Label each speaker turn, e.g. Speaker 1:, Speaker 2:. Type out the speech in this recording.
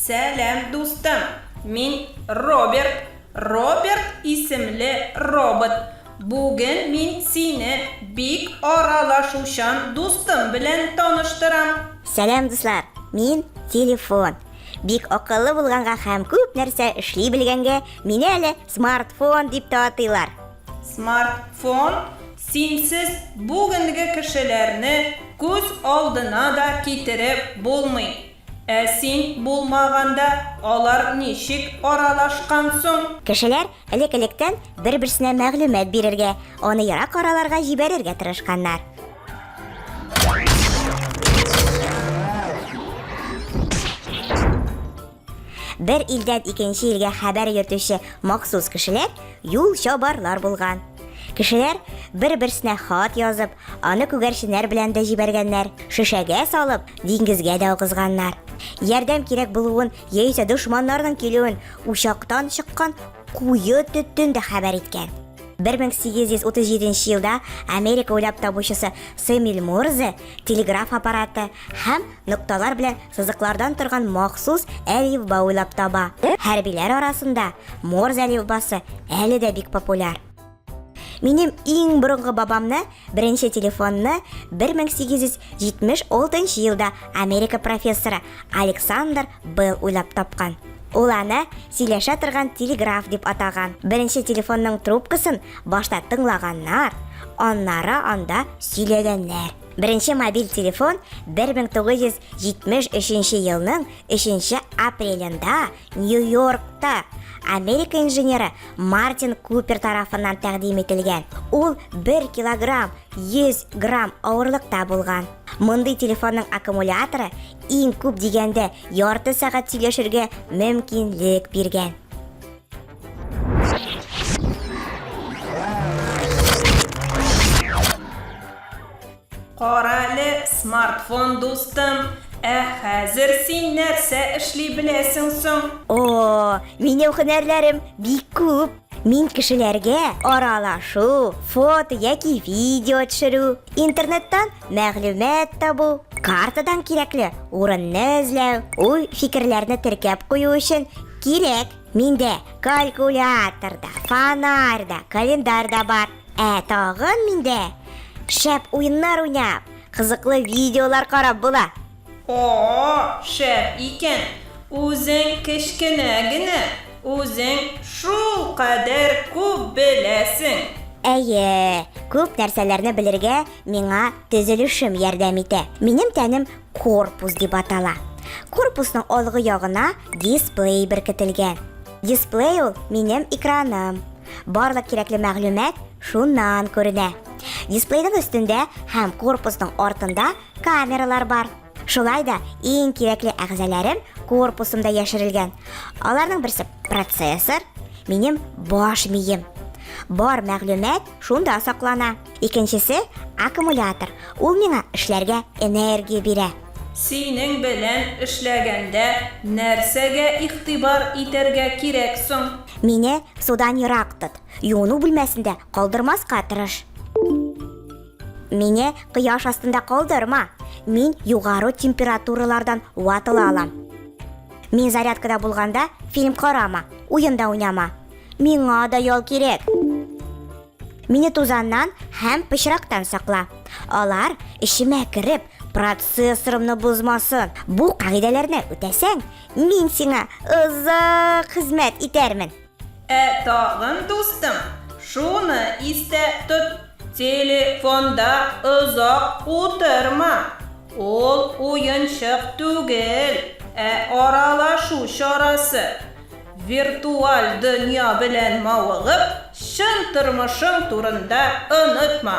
Speaker 1: Сәлам, дустым! Мин Роберт. Роберт исемле робот. Бүген мин сине бик аралашучан дустым белән таныштырам. Сәлам, дуслар!
Speaker 2: Мин телефон. Бик акыллы булганга һәм күп нәрсә эшли белгәнгә, мине әле смартфон дип тә атыйлар. Смартфон
Speaker 1: синсез бүгенге кешеләрне күз алдына да китереп булмый. Ә син булмаганда алар ничек аралашкан соң? Кешеләр
Speaker 2: элек-электән бер-берсенә мәгълүмат бирергә, аны ерак араларга җибәрергә тырышканнар. Бер илдән икенче илгә хәбәр йөртүче махсус кешеләр юлчабарлар булган. Кешеләр бер-берсенә хат язып, аны күгәрченнәр белән дә җибәргәннәр, шешәгә салып, диңгезгә дә агызганнар. Ярдәм кирәк булуын яисә дошманнарның килүен учактан чыккан куе төтен дә хәбәр иткән. 1837 елда Америка уйлап табучысы Сэмюэл Морзе телеграф аппараты һәм Нокталар белән сызыклардан торган махсус әлифба уйлап таба. Хәрбиләр арасында Морзе әлифбасы әле дә бик популяр. Минем иң борынгы бабамны беренче телефонны 1876 елда Америка профессоры Александр Белл уйлап тапкан. Ул аны сөйләшә торган телеграф дип атаган. Беренче телефонның трубкасын башта тыңлаганнар, аннары анда сөйләгәннәр. Беренче мобиль телефон 1973 нче елның 3 нче апрелендә Нью-Йоркта Америка инженеры Мартин Купер тарафыннан тәкъдим ителгән. Ул 1 килограмм 100 грамм авырлыкта булган. Мондый телефонның аккумуляторы иң күп дигәндә ярты сәгать сөйләшергә мөмкинлек биргән.
Speaker 1: Карале, смартфон дустым, ә хәзер син нәрсә эшли беләсең соң? О,
Speaker 2: минем һөнәрләрем бик күп. Мин кешеләргә аралашу, фото яки видео төшерү, интернеттан Мәгълүмат табу, картадан кирәкле урынны эзләү, уй фикерләрне теркәп кую өчен кирәк. Миндә калькулятор да, фонарь да, календарь да бар. Ә тагын миндә шәп уеннар уйнап, кызыклы видеолар карап була. Оо, шәп
Speaker 1: икән! Үзең кечкенә генә, үзең шул кадәр күп беләсең! Әйе,
Speaker 2: күп нәрсәләрне белергә миңа төзелешем ярдәм итә. Минем тәнем корпус дип атала. Корпусның алгы ягына дисплей беркетелгән. Дисплей ул, минем экраным. Барлык кирәкле мәгълүмат шуннан күренә. Дисплейның өстендә һәм корпусның артында камералар бар. Шулай да иң кирәкле әгъзаларым корпусымда яшерелгән. Аларның берсе процессор, минем баш мием. Бар мәгълүмат шунда саклана. Икенчесе аккумулятор. Ул миңа эшләргә энергия бирә. Синең
Speaker 1: белән эшләгәндә нәрсәгә игътибар итәргә кирәк соң? Мине судан
Speaker 2: ерак тот. Юыну бүлмәсендә калдырмаска тырыш. Мине кояш астында калдырма. Мин югары температуралардан ватыла алам. Мин зарядкада булганда фильм карама, уенда уйнама. Миңа да ял кирәк. Мине тузаннан һәм пычрактан сакла. Алар эчемә кереп, процессорымны бозмасын. Бу кагыйдәләрне үтәсәң, мин сиңа озак хезмәт итәрмен. Ә тагын,
Speaker 1: дустым, шуны истә тот, телефонда озак утырма. Ул уенчык түгел, ә аралашу чарасы. Виртуаль дөнья белән мавыгып, чын тормышың турында онытма.